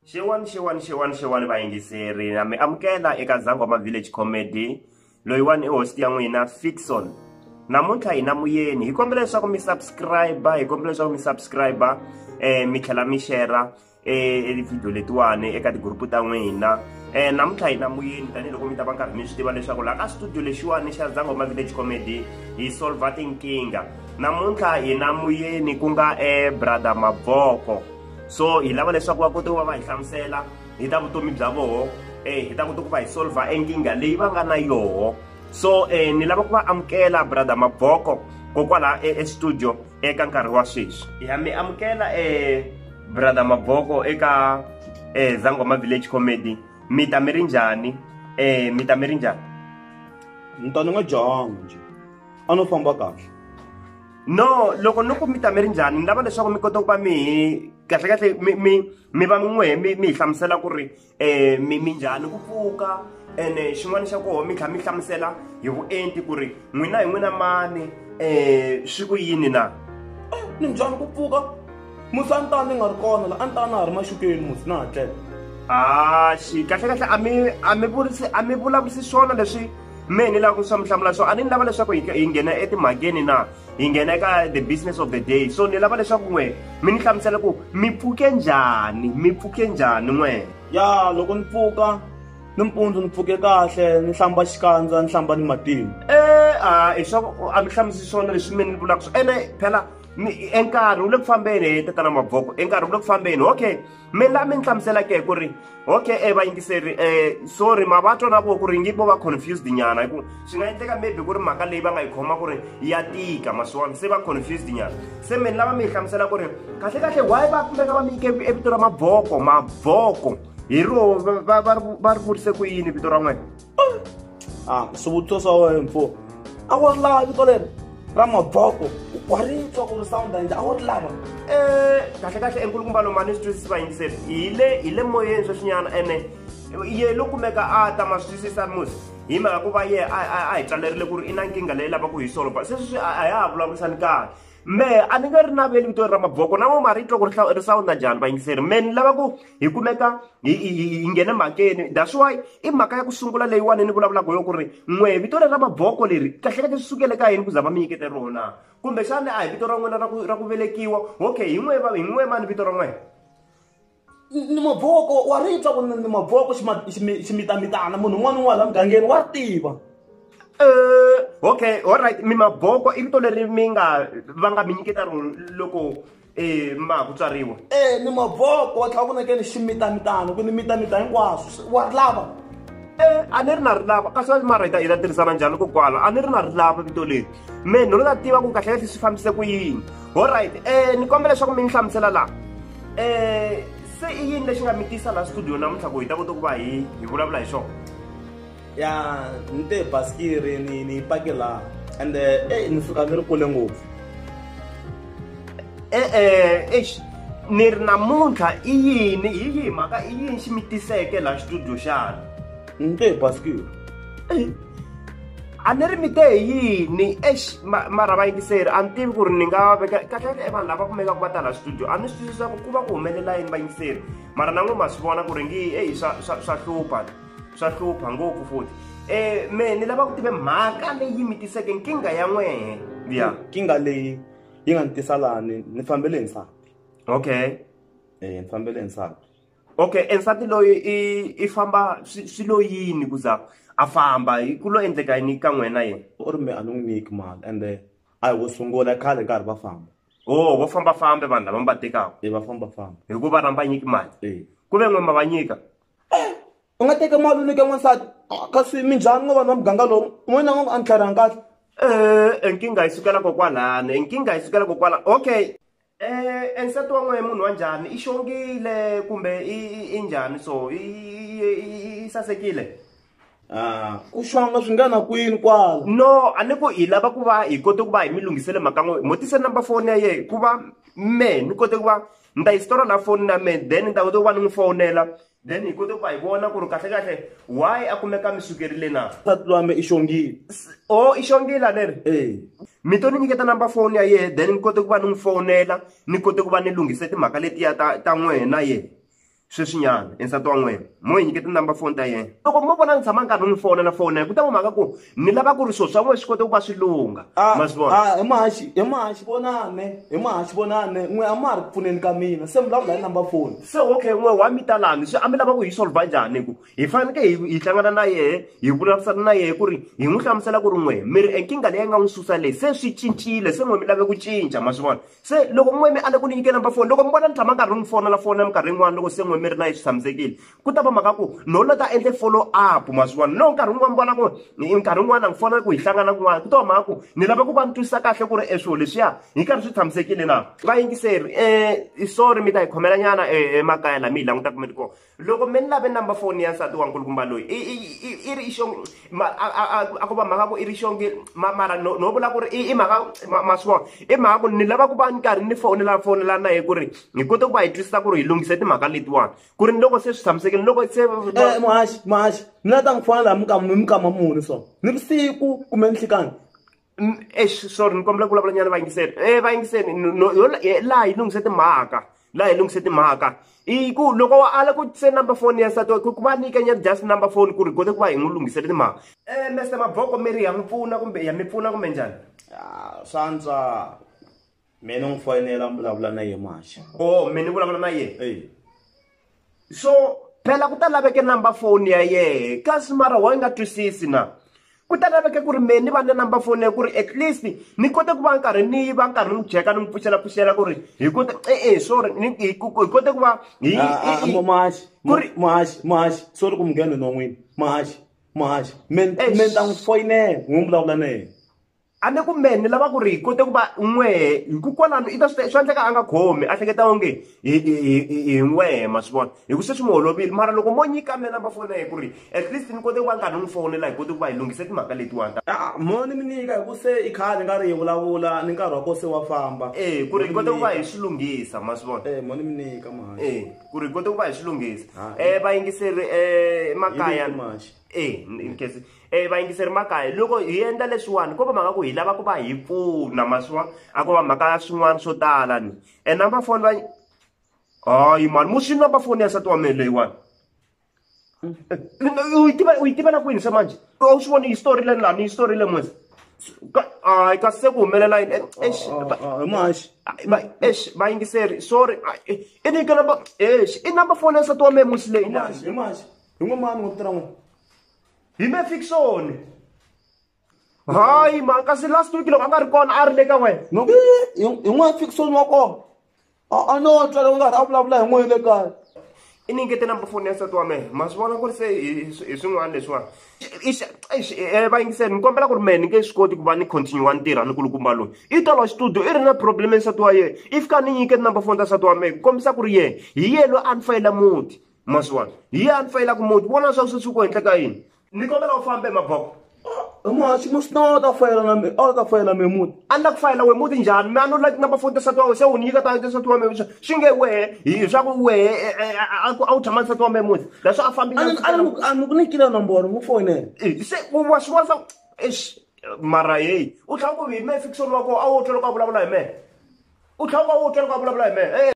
xewani xewani xewani xewani vayingiseri na mi amukela eka zangoma village comedy loyiwani i hosti ya n'wina fixon namuntlha hi na muyeni hi kombela leswaku mi subscribe hi kombela leswaku mi subscribe um mi tlhela mi xera eh, video letiwani eka tigurupu ta n'wina eh namuntlha hi na muyeni tanihiloko mi ta va nkarhi mi swi tiva leswaku laha ka studio lexiwani xa zangoma village comedy hi solva tinkingha namuntlha hi na muyeni ku nga eh brother maboko so hi lava leswaku va kote ku va va hi hlamusela hi ta vutomi bya voho um eh, hi ta kota ku va hi solva enkingha leyi va nga na yoho so um ni lava ku va amukela brother maboko kokwala e, estudio eka nkarhi wa sweswi ya mi amukela um brother maboko eka um zangoma village comedy mi ta mi ri njhani um mi ta mi ri njhani ni ta ni nga jahanga njhe a no famba kahle no loko no ku mi ta mi ri njhani ni lava leswaku mi kota ku va mi kahlekahle mi mi mi va min'we mi mi hi hlamusela ku ri um mi mi njhani ku pfuka ene eh, xin'wana xa koho mi tlha mi hlamusela hi vuenti ku ri n'wina hi n'wina mani um swi ku yini na eh, ni njhani ku pfuka musi a ni ta ni nga ri kona la a ni ta na ha ri maxukeni musi na ha tlela axi kahle kahle a mi a mi vulisi a mi vulavurisi swona leswi mehe ni lava ku swa mi hlamula swo a ni ni lava leswaku hi hi nghena etimhakeni na hi nghena eka the business of the day so ni lava leswaku n'we mi ni hlamusela ku mi pfuke njhani mi pfuke njhani n'we ya loko ni pfuka nimpundzu ni pfuke kahle ni hlamba xikandza ni hlamba ni matimba e a hi swa a mi hlamusi swona leswi mi ni vulaka swo ene phela enkarhi wu le ku fambeni hi tetana maboko enkarhi wu le ku fambeni okay mi la mi ni hlamusela ke ku ri okay e vayingiseri um sorry ma va twana ku ku ri ngi vo va confused nyana hi ku swi nga endleka maybe ku ri mhaka leyi va nga yi khoma ku ri ya tika maswona se va confused nyana se mi ni lava mi yi hlamusela ku ri kahle kahle why va kumeka va mi yike evito ra maboko maboko hi ro va ri vurise ku yini vito ra n'wena a ku swivutiso swa wena mfo a ku ri lava vito leri ra maboko u kwaritswa ku ri sound yindzi a ku ri lava um kahle kahle enkulukumba lomani swi twisisi vayingiseri hi le hi le moyeni sweswinyana ene ye lo kumeka a ta ma swi twisisa musi hi mhaka ku va ye a hi tswalerile ku ri i na nkingha leyi lavaka hi solo but sweswi swi a ya ha vulavurisani kahle me a ni nga ri naveli vito ra maboko na vo ma ri twa ku ri ri sawunda njhani vayingiseri me ni lava ku hi kumeka hi hi nghene mhakeni that's why i mhaka ya ku sungula leyiwani ni vulavulaka yo ku ri n'we vito leri ra maboko leri kahlekahle swi sukele ka yini ku za va mi nyikete rona kumbexani a hi vito ra n'wina ra ku ra ku velekiwa okay hi n'we va hi n'we mani vito ra n'wena ni maboko wa ri twa ku ni maboko ximitamitana munhu un'wana un'wana la mugangeni wa tiva eh, okay alright mi maboko i vito leri mi nga va nga mi nyiketa rona loko ee ma ku tswariwa ee ni mavoko wa tlhela ku nekeni ximitamitano ku ni mitamita hinkwaswo wa ri lava ee a ni ri na ri lava kasi va mara hi ta hi ta tirhisana njhani ko kwala a ni ri na ri lava vito leri me ni lo ta tiva ku kahle kahle swi fambise ku yini all right um ni kombela leswaku mi ni hlamusela laha um se i yini lexi nga mi tisa laha studio namuntlha ku hi ta kota ku va hi hi vulavula hi xona ya ni te basikiri ni ni pake laha and eh, eh ni fika ni ri kule ngopfu e-e eish ni ri namuntlha i yini hi yihi mhaka i yini xi mi tiseke laha xitudio xana ni te basikiri a ni ri mi te hi yini eish mara vayingiseri a ni tivi ku ri ni nga veka kahlekahle e vanhu lava kumekaka va ta laha xitudio a ni swi twisisa ku ku va ku humelela yini vayingiseri mara na n'we ma swi vona ku ri ngi eyi swa hlupha swa hlupha ngopfu futhi um me ni lava ku tive mhaka leyi mi tiseke nkingha ya n'wehe ya nkingha leyi yi nga ni tisa lani ni fambele nsati okay um ni fambele nsati okay ensati loyi i i famba swi lo yini ku za a famba ku lo endleka yini ka n'wena yena u ri me a ni n'wi nyiki mali ende a hi wo sungula khale nkarhi va famba o oh, vo fambafambe vanhu lava mi va tekaka e va fambafamba hikuva rhamba nyiki mali e. ku ve n'we ma va nyika u nga teka mali u nyika n'wansati kasi minjhani ngo vanhu va muganga lowu n'wana ngo a ni tlharihanga kahle e nkingha yi sukela kokwalani e nkingha yi sukela kokwala okay um nsati wa n'wehe munhu wa njhani i xongile kumbe i njhani so i sasekile Ah, ku xonga swi nga na kwini kwala no a ni ku hi lava ku va hi kote ku va hi mi lunghisele mhaka n'we mo tise number phone ya yena ku va me ni kote ku va ni ta yi sitora la foni na me then ni ta kote ku va ni n'wi fowunela then hi kote ku va hi vona ku ri kahle kahle why a kumeka mi sukerile na nsati lwame i xongile o i xongile aleri ee mi to ni nyiketa number phone ya yena then ni kote ku va ni n'wi fowunela ni kote ku va ni lunghise timhaka letiya ta ta n'wena yena sweswinyana e nsati wa n'wina mo yi nyiketa number phone ta yena loko mo vona ni tshama nkarhi n'wi fona na fona ku ta n'wi mhaka ku ni lava ku ri swilo swa n'wina swi kota ku va swi lungha ah, ma swi vona ah, hi mahaxi hi mahaxi vonane hi mahaxi vonane n'we a ma ha ri ku pfuneni ka mina se mi vulavula hi number phone se okay n'we wa mi talani swi a mi lava ku hi solva njhani hi ku hi faneke hi hi hlangana na yehe hi vulavurisana na yehe ku ri hi n'wi hlamusela ku ri n'we mi ri enkingha leyi nga n'wi susa leyi se swi cincile se n'we mi lave ku cinca ma swi vona se loko n'we mi ale ku ni nyike number foni loko mi vona ni tshama nkarhi ni fona la fona minkarhi yin'wana loko se n'we mi ri na yi swi tshamisekile ku ta va mhaka ku no la ta endle follow up maswiwani no nkarhi wun'wana mi vona ku nkarhi wun'wana ni fona ku hi hlangana kun'wana ku ta va mhaka ku ni lava ku va ni twisisa kahle ku ri e swilo leswiya hi karhi swi tshamisekile na vayingiseri um sorry mi ta hi khomela nyana emakaya laha mi hi langutaka mi ri kona loko mi ni lave number foni ya nsati wa nkulukumba loyi i ri xo a ku va mhaka ku i ri xonge mara no vula ku ri i mhaka ma swi vona i mhaka ku ni lava ku va ni karhi ni fonela fonela na ye ku ri hi kote ku va hi twisisa ku ri hi lunghise timhaka letiwani ku ri ni loko se swi tshamisekile loko se eh, muhaxi muhaxi ni la ta n'wi fonela hi mukama hi mukama muni so ni vusiku kumbe nhlekani eish sorry ni kombela ku vulavula nyana va yingiseni e va yingiseni laha yi lunghise timhaka laha yi lunghise timhaka i ku loko wa ala ku se number phone ya nsati ku va nyika nyana just number phone ku ri kota ku va hi n'wi lunghisele timhaka um mester maboko mi ri ya mi pfuna kumbe ya mi pfuna kumbe njhani swantswa mina n'wi foyinela ni vulavula na yena maxa o oh, mina ni vulavula na yena so phela ku ta laveke number phone ya yehe kasi mara wa yi nga twisisi na ku ta laveke ku ri mehe ni va na number phone ya ku ri at least ni kote ku va nkarhi ni va nkarhi ni n'wi jeka ni n'wi pfuxela pfuxela ku ri hi kote e-e sorry hi kote ku va hi mahaxi ku ri mahaxi mahaxi sorry ku munghena non'wini mahaxi mahaxi me ni ta n'wi foyinela n'wi vulavula na yena a ni ku mehe ni lava ku ri hi kote ku va n'wehe hi ku kwalano i ta swi swa endleka a nga khomi a hleketa onge hi hi hi hi n'wehe ma swi vona hi ku se swi n'wi holovile mara loko mo nyika mina number foni ya hi ku ri at least ni kote ku va ni karhi ni n'wi fonela hi kote ku va hi lunghise timhaka letiwani ta ah, mo ni mi nyika hi ku se i khale nga ri hi vulavula ni nkarhi wa ko se wa famba e ku ri hi kote ku va hi swi lunghisa ma swi vona e mo ni mi nyika mahani e ku ri hi kote ku va hi swi lunghisa um vayingiseri um makaya e nkesi e vayingiseri makaya loko hi endla leswiwani ko va mhaka ku hi lava ku va hi pfuna maswa a ko va mhaka ya swin'wana swo tala ni e number foni va hayi mani muxini number foni ya nsati wa mina leyiwani u yi tiva u yi tivela kwini se manje u swi voni histori leni lani histori le mwese hayi kasi se ku humelela yini ex oh, oh, oh, ex vayingiseri sorry i nyike number ex i number foni ya nsati wa mina musi leyi lani hi n'we mani wa ku tirha n'we hi me fiction hayi mhaka se last week loko a nga ri kona a ri le ka wena hi n'wana fiction wa kona a no twa loko nga ri a vulavula hi n'we le kaya i ni ngete number foni ya nsati wa mehe ma swi vona ku ri se hi swin'wana leswiwani eh, va yingiseni ni kombela ku ri mehe ni nge swi koti ku va ni continue wa ntirha ni kulukumba loyi i tolo xitudio i ri na problem ya nsati wa yena i fika ni nyikete number foni ta nsati wa mehe ku kombisa ku ri yena hi yena loyi a ni fayela muti ma swi vona hi ya ni fayelaka muti vona leswaku swi sukiwa henhla ka yini ni kombela u fambe maboko muhaxi mu sinowa ta fayela na mi a ta fayela mi muti a ni la ku fayela we muti njhani mi a no laki number foni tisati wa we se u ni nyika ta tisati wa me xa swi nge wehe hi swa ku wehe e, e, e, a ku- a wu tshama tisati wa me muti leswi a fambi a ni ku nikile nomboro mu foyinela Eh, se u wa swi vona swa ku, eish mara yeyi u tlhela ku hi me fikisoni wa koho a wo twa loko a vulavula hi mehe u tlhela ku a wo twa loko a vulavula hi mehe Eh,